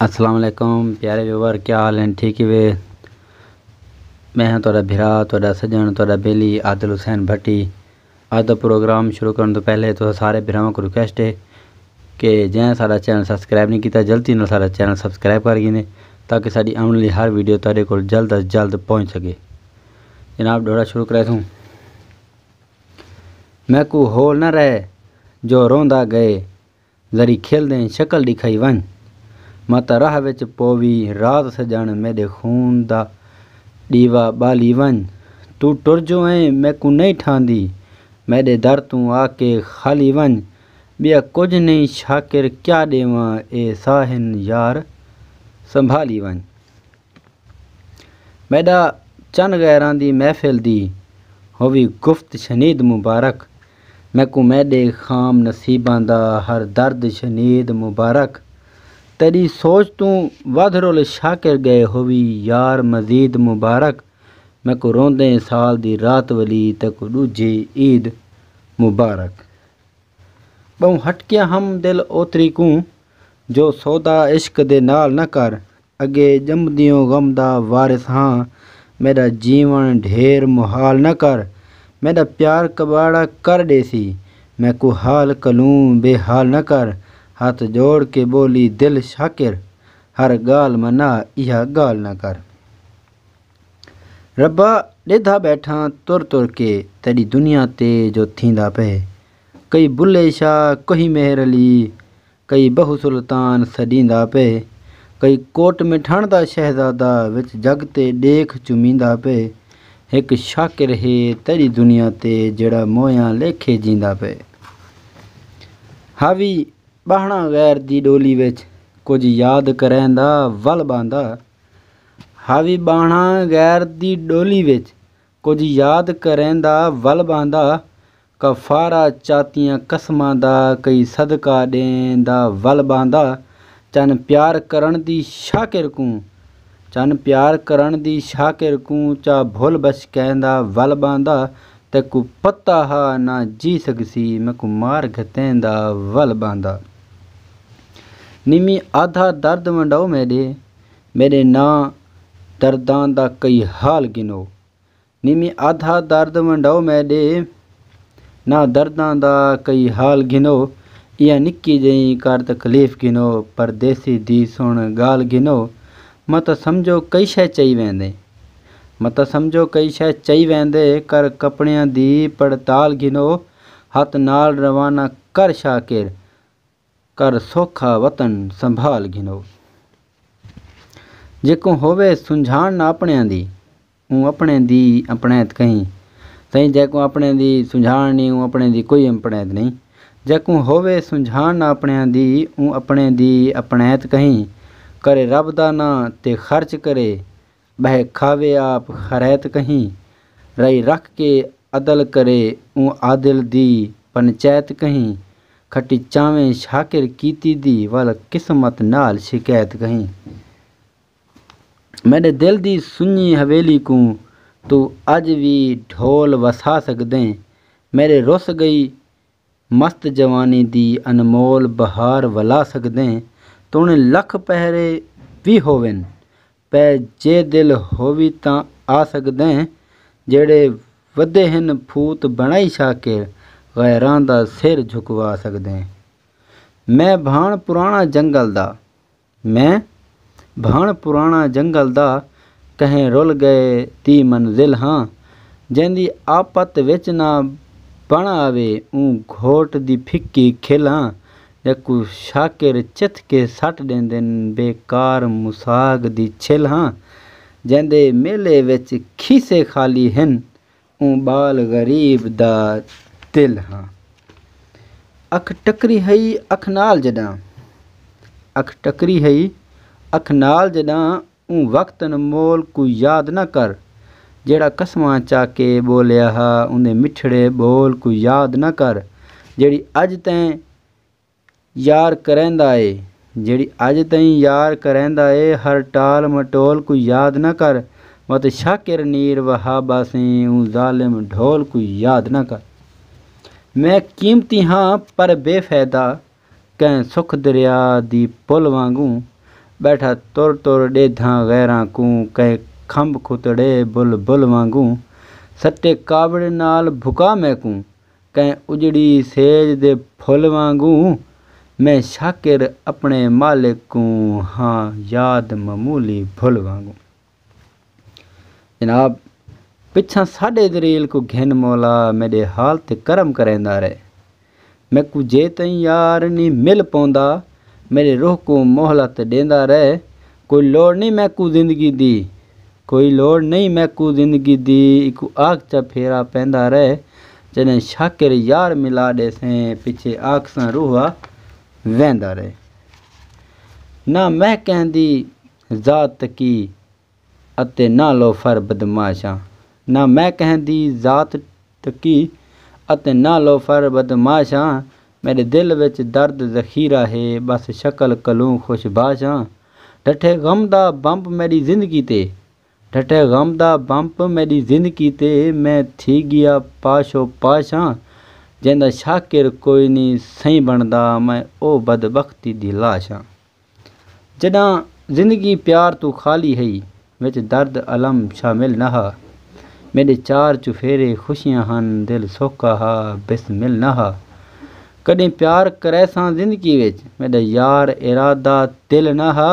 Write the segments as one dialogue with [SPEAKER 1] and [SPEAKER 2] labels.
[SPEAKER 1] السلام علیکم پیارے ویور کیا حال ہیں ٹھیک ہی وے میں ہاں تہاڈا بھرا تہاڈا سجن تہاڈا بیلی عادل حسین بھٹی اج دا پروگرام شروع کرن توں پہلے تساں سارے بھراواں کوں ریکویسٹ ہے کہ جیں ساڈا چینل سبسکرائب نہیں کیتا جلدی نال ساڈا چینل سبسکرائب کر گھینے تاکہ ساڈی آون والی ہر ویڈیو تہاڈے کول جلد از جلد پہنچ سکے جناب ڈوڑا شروع کرے تھوں میں کو ہول نہ رہے جو روندا گئے ذری کھلدیں شکل ݙکھائی ونڄ۔ ماں تاں راہ وچ پووی رات سڄݨ میݙے خون دا ݙیوا ٻالی ونڄ۔ توں ٹر جو ایں میکوں نئیں ٹھاہندی میݙے در توں آ کے خالی ونڄ۔ ٻیا کجھ نئیں شاکر کیا ݙیواں اے ساہن یار سنبھالی ونڄ۔ میݙا چن غیراں دی محفل دی ہووی گفت شنید مبارک میکوں میݙے خام نصیباں دا ہر درد شنید مبارک تیݙی سوچ توں ودھ رول شاکر ڳئے ہووی یار مزید مبارک میکوں روندیں سال دی رات ولی تیکوں ݙوجھی عید مبارک ٻہوں ہٹکیاں ہم دل اوتری کوں جو سودا عشق دے نال نہ کر اگے ڄمدیوں غم دا وارث ہاں میݙا جیوݨ ڈھیر محال نہ کر میݙا پیار کٻاڑا کر ݙیسی میکوں حال کلوں بے حال نہ کر ہتھ جوڑ کے ٻولی دل شاکر ہر ڳالھ منا ایہا ڳالھ نہ کر ربا ݙیدھا ٻیٹھاں تر تر کے تیݙی دنیا تے جو تھیندا پئے کئی بلھے شاہ کہیں مہر علی کئی بہو سلطان سݙیندا پئے کئی کوٹ مٹھݨ دا شہزادہ وچ جڳ تے ݙیکھ چمیندا پئے ہک شاکر ہے تیݙی دنیا تے جیڑھا موئیاں لیکھے جیندا پئے حاوی ٻہݨاں غیر دی ݙولی وچ کجھ یاد کریندا ول ٻہندا حاوی ٻہݨاں غیر دی ݙولی وچ کجھ یاد کریندا ول ٻہندا کفارہ چاتیاں قسماں دا کئی صدقہ ݙیں دا ول ٻہندا چن پیار کرݨ دی شاکر کوں چن پیار کرݨ دی شاکر کوں چا بھل بھس کہیں دا ول ٻہندا تیکوں پتہ ہا نہ جی سڳسی میکوں مار گھتیں دا ول ٻہندا نمی آدھا درد ونڈو میݙے میݙے ناں درداں دا کئی حال گھنو۔ نیمی آدھا درد ونڈاؤ میں ݙے ناں درداں دا کئی حال گھنو ایہا نکی جئی کر تکلیف گھنو پردیسی دی سݨ ڳالھ گھنو متاں سمجھو کئی شے چئی ویندے متاں سمجھو کئی شے چئی ویندے کر کپڑیاں دی پڑتال گھنو ہتھ نال روانہ کر شاکر کر سوکھا وطن سنبھال گھنو۔ جیکوں ہووے سنجھاݨ نہ اپݨیاں دی اوں اپݨیں دی امپݨیت کہیں سئیں جیکوں اپݨیں دی سنجھاݨ نی اوں اپݨیں دی کوئی امپݨیت نئیں جیکوں ہووے سنجھاݨ نہ اپݨیاں دی اوں اپݨیں دی امپݨیت کہیں کرے رب دا ناں تے خرچ کرے ٻہہ کھاوے آپ خریت کہیں۔ رئی رکھ کے عدل کرے اوں عادل دی پنچیت کہیں۔ کھٹی چاویں شاکر کیتی دی ول قسمت نال شکیت کہیں۔ میݙے دل دی سنڄی حویلی کوں توں اڄ وی ڈھول وسا سڳدیں۔ میݙے رس ڳئی مست جوانی دی انمول بہار ولا سگدیں توݨے لکھ پہرے وی ہوون پئے جے دل ہووی تاں آ سگدیں جیڑھے ودھے ہن پھوت بݨائی شاکر غیراں دا سر جھکوا سگدیں میں بھاݨ پراݨا جنگل دا میں بھاݨ پراݨا جنگل دا کہیں رل ڳئے دی منزل ہاں جیندی آپت وچ نہ بݨ آوے اوں گھوٹ دی پھکی کھل ہاں جیکوں شاکر چتھ کے سٹ ݙیندن بے کار مساگ دی چھل ہاں جیندے میلے وچ کھیسے خالی ہن اوں ٻال غریب دا دل ہا۔ اکھ ٹکری ہئی اکھ نال جݙاں اکھ ٹکری ہئی اکھ نال جݙاں اوں وقت انمول کوں یاد نہ کر جیڑھا قسماں چا کے ٻولیا ہا اوندے مٹھڑے ٻول کوں یاد نہ کر جیڑھی اڄ تئیں یار کریندا اے جیڑھی اج تئیں یار کریندا اے ہر ٹال مٹول کوں یاد نہ کر وت شاکر نیر وہاب آسیں اوں ظالم ڈھول کوں یاد نہ کر میں قیمتی ہاں پر بے فیدہ کہیں سکھ دریا دی پل وانگوں بیٹھا تر تر ڈیدھاں غیراں کوں کہیں کھمب کھتڑے بل بل وانگوں سٹے کاوڑ نال بھکا میکوں کئیں اجڑی سیج دے پھل وانگوں میں شاکر اپݨے مالک کوں ہاں یاد معمولی بھل وانگوں جناب پچھاں ساݙے دریل کوں گھن مولا میݙے حال تے کرم کریندا رہے میکوں جے تئیں یار نی مل پوندا میݙے روح کوں مہلت ݙیندا رہے کوئی لوڑ نئیں میکوں زندگی دی کوئی لوڑ نئیں میکوں زندگی دی ایکوں آکھچا پھیرا پیندا رہ جݙیں شاکر یار ملا ݙیسیں پچھے آکھساں روحا ویندا رہ نہ میں کہیں دی ذات تقی اتے نہ لوفر بدمعاشاں نہ میں کہیں دی ذات تکی اتے نہ لوفر بدمعاش آں میݙے دل وچ درد ذخیرہ ہے بس شکل کلوں خوش باش آں ڈھٹھے غم دا بمپ میݙی زندگی تے ڈھٹھے غم دا بمپ میݙی زندگی تے میں تھی ڳیا پاش و پاش آں جیندا شاکر کوئی نی سئیں بݨدا میں او بدبختی دی لاش آں۔ جݙاں زندگی پیار توں خالی ہئی وچ درد الم شامل نہ ہا میݙے چار چوفیرے خوشیاں ہن دل سوکھا ہا بسمل نہ ہا کݙیں پیار کریساں زندگی وچ میݙا یار ارادہ دل نہ ہا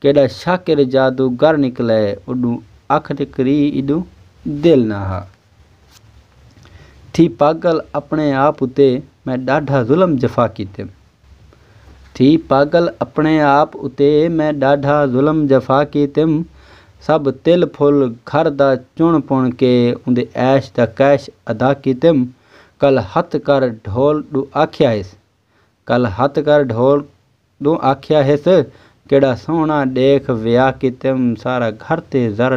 [SPEAKER 1] کیݙا شاکر جادو گر نکلے اݙوں اکھ تے کری ایݙوں دل نہ ہا تھی پاڳل اپݨے آپ اتے میں ݙاڈھا ظلم جفا کیتے۔ تھی پاگل اپݨے آپ اتے میں ݙاڈھا ظلم جفا کیتم سب تل پھل گھر دا چݨ پݨ کے اوندے عیش دا کیش ادا کیتم کل ہتھ کر ڈھول ݙوں آکھیا ہس کل ہتھ کر ڈھول ݙوں آکھیا ہس کیݙا سوہݨا ݙیکھ ویا کیتم سارا گھر تے زر